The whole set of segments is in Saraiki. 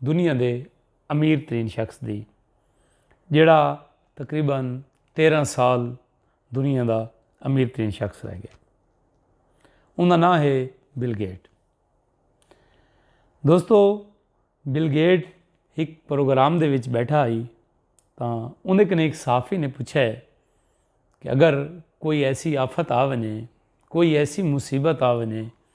دنیا دے امیر ترین شخص دی جیڑھا تقریبا تیرہ سال دنیا دا امیر ترین شخص رہ گیا ان دا ناں ہے بل گیٹ دوستو بل گیٹ ایک پروگرام دے وچ بیٹھا آئی تو انہیں کنے ایک صحافی نے پوچھا ہے کہ اگر کوئی ایسی آفت آ ونے کوئی ایسی مصیبت آ ونے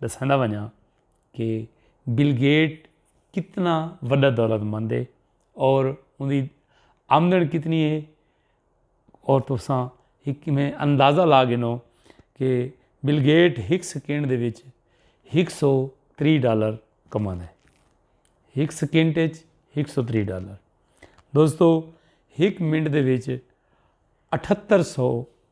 ڈساندا ونجاں کہ بل گیٹ کتنا وڈا دولت مند ہے اور اندی آمدن کتنی ہے اور تساں ایک میں اندازہ لا گنو کہ بل گیٹ ہک سیکنڈ دے وچ ہک سو تری ڈالر کما دے ہک سیکنڈ وچ ہک سو تری ڈالر دوستو ہک منٹ دے وچ اٹھتر سو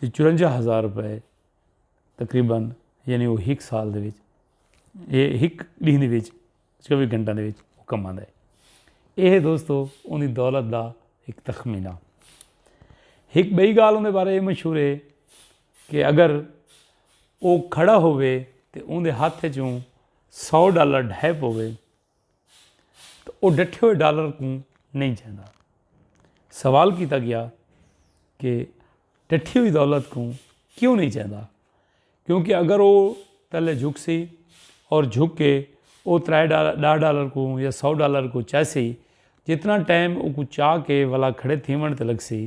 تے چورنجا ہزار روپے تقریبا یعنی او ہک سال دے وچ اے ہک ݙینہہ دے وچ چووی گھنٹاں دے وچ او کماندا ہے اے ہے دوستو اونی دولت دا ہک تخمینہ ہک ٻئی ڳالھ اوندے بارے اے مشہور ہے کہ اگر او کھڑا ہووے تے اوندے ہتھ ءچوں سو ڈالر ڈھہہ پووے تو او ڈٹھے ہوئے ڈالر کوں نہیں چاہندا۔ سوال کیتا گیا کہ ڈٹھی ہوئی دولت کوں کیوں نہیں چاہندا؟ کیونکہ اگر او تلے جھک سی اور جھک کے او ترائے ڈاہ ڈالر کوں یا سو ڈالر کوں چاہسی جتنا ٹائم او کوں چاہ کے ولا کھڑے تھیون تے لگ سی۔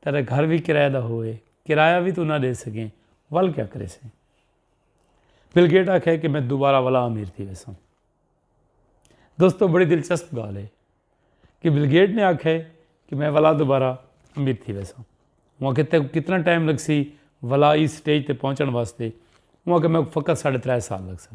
تیڈا گھر وی کرایہ دا ہوئے کرایہ وی توں نہ ڈے سکیں ول کیا کرے سیں۔ بل گیٹ آکھے کہ میں دوبارہ ولا امیر تھی ویسوں۔ دوستو بڑی دلچسپ گال ہے کہ بل گیٹ نے آکھے کہ میں ولا دوبارہ امیر تھی ویسوں۔ وہاں کہتے ہیں کتنا ٹائم لگ سی ولا اس سٹیج تے پہنچن واسطے وہاں کہ میں فقط ساڑھے ترائے سال لگ سن۔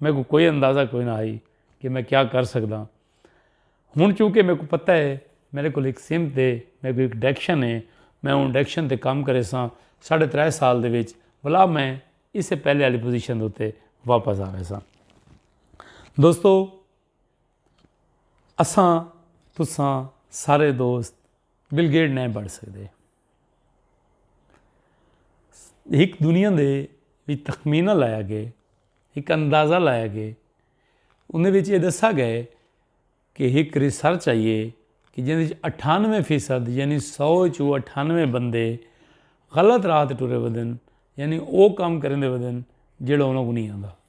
میکوں کوئی اندازہ کوئی نہ ہئی کہ میں کیا کر سکدا ہاں ہن چونکہ میکوں پتہ ہے میرے کول ہک سمت ہے میکوں ہک ڈیکشن ہے میں اوں ڈیکشن تے کم کرے ساں ساڑھے ترے سال دے وچ بھلا میں اس سے پہلے والی پوزیشن اتے واپس آوے ساں دوستو اساں تساں سارے دوست بل گیٹ نہیں بڑھ سکدے۔ ہک دنیا دے بھی تخمینہ لایا گئے ہک اندازہ لایا گئے انہیں وچ یہ دسا گئے کہ ہک ریسرچ آئیے کہ جن اٹھانوے فیصد یعنی سو چو اٹھانوے بندے غلط رات ٹرے ودن یعنی او کام کریں دے ودن جڑا انہوں کو نہیں آندا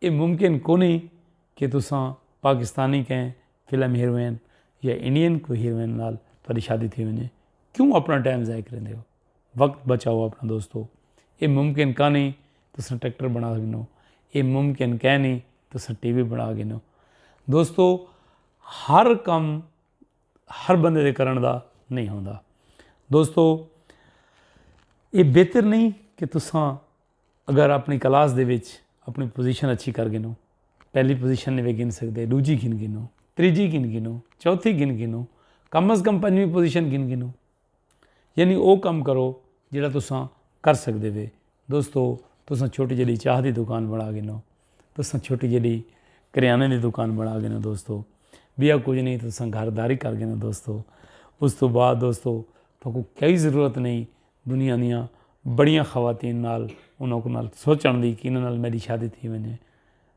اے ممکن کونی کہ تساں پاکستانی کہیں فلم ہیروئن یا انڈین کوئی ہیروئن نال تہاڈی شادی تھی ونجے۔ کیوں اپنا ٹائم ضائع کریندے ہو۔ وقت بچاؤ اپنا دوستو۔ اے ممکن کانی تساں ٹریکٹر بنا گھنو۔ اے ممکن کینی تساں ٹی وی بنا گھنو۔ دوستو ہر کم ہر بندے دے کرن دا نہیں ہوندا۔ دوستو اے بہتر نہیں کہ تساں۔ اگر اپݨی کلاس دے وچ اپݨی پوزیشن اچھی کر گھنو، پہلی پوزیشن نویں گھن سڳدے، ݙوجھی گھن گھنو، تریجھی گھن گھنو، چوتھی گھن گھنو، کم از کم پنجویں پوزیشن گھن گھنو۔ یعنی او کم کرو جیڑھا تساں کر سڳدے وے۔ دوستو تساں چھوٹی جیڑھی چاہ دی دکان بݨا گھنو، تساں چھوٹی جیڑھی کریانے دی دکان بݨا گھنو دوستو، بیا کچھ نہیں تساں گھرداری کر گھنو دوستو۔ اس تو بعد دوستو تہاکوں کئی ضرورت نہیں دنیا دیاں بڑیاں خواتین نال انہاں کو نال سوچݨ دی کہ انہاں نال میڈی شادی تھی ونجے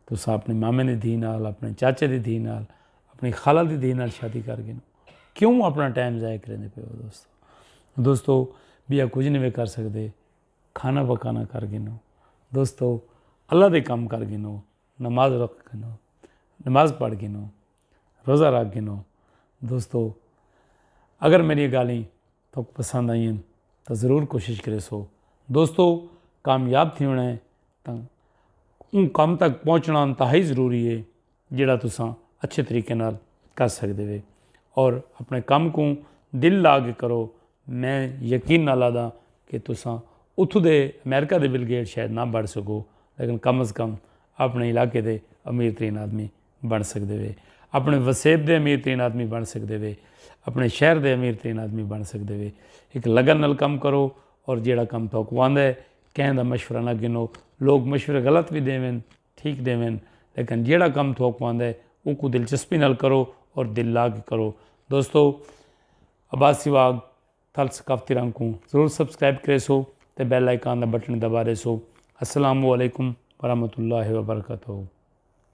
تساں اپنے مامے دی دھی نال اپنے چاچے دی دھی نال اپنی خالہ دی دھی نال شادی کر گئے کیوں اپنا ٹائم ضائع کریندے پئے ہو دوستو دوستو بیا کچھ نہیں کر سکدے کھانا پکانا کر گئے دوستو اللہ دے کم کر گئے نماز رکھ گئے نماز پڑھ گئے روزہ رکھ گئے دوستو اگر میڈی گالھیں تہاکوں پسند آئین تاں ضرور کوشش کریسو دوستو کامیاب تھی ہونا ہے تاں اون کم تک پہنچنا انتہائی ضروری ہے جڑا تساں اچھے طریقے نال کر سکدے وے اور اپنے کم کو دل لا کے کرو میں یقین نال آدا کہ تساں اتھو دے امریکہ دے بل گیٹ شاید نہ بڑھ سکو لیکن کم از کم اپنے علاقے دے امیر ترین آدمی بݨ سڳدے وے اپݨے وسیب دے امیر ترین آدمی بݨ سڳدے وے اپݨے شہر دے امیر ترین آدمی بݨ سڳدے وے ہک لگن نال کم کرو اور جیڑھا کم تہاکوں آندا ہے کہیں دا مشورہ نہ گھنو لوک مشورے غلط وی ݙیون ٹھیک ݙیون لیکن جیڑھا کم تہاکوں آندا ہے اوکوں دلچسپی نال کرو اور دل لا کے کرو دوستو عباسی واگ تھل ثقافتی رنگ کوں ضرور سبسکرائب کرے سو تے بیل آئیکن دا بٹن دبا دے سو السلام علیکم ورحمۃ اللہ وبرکاتہ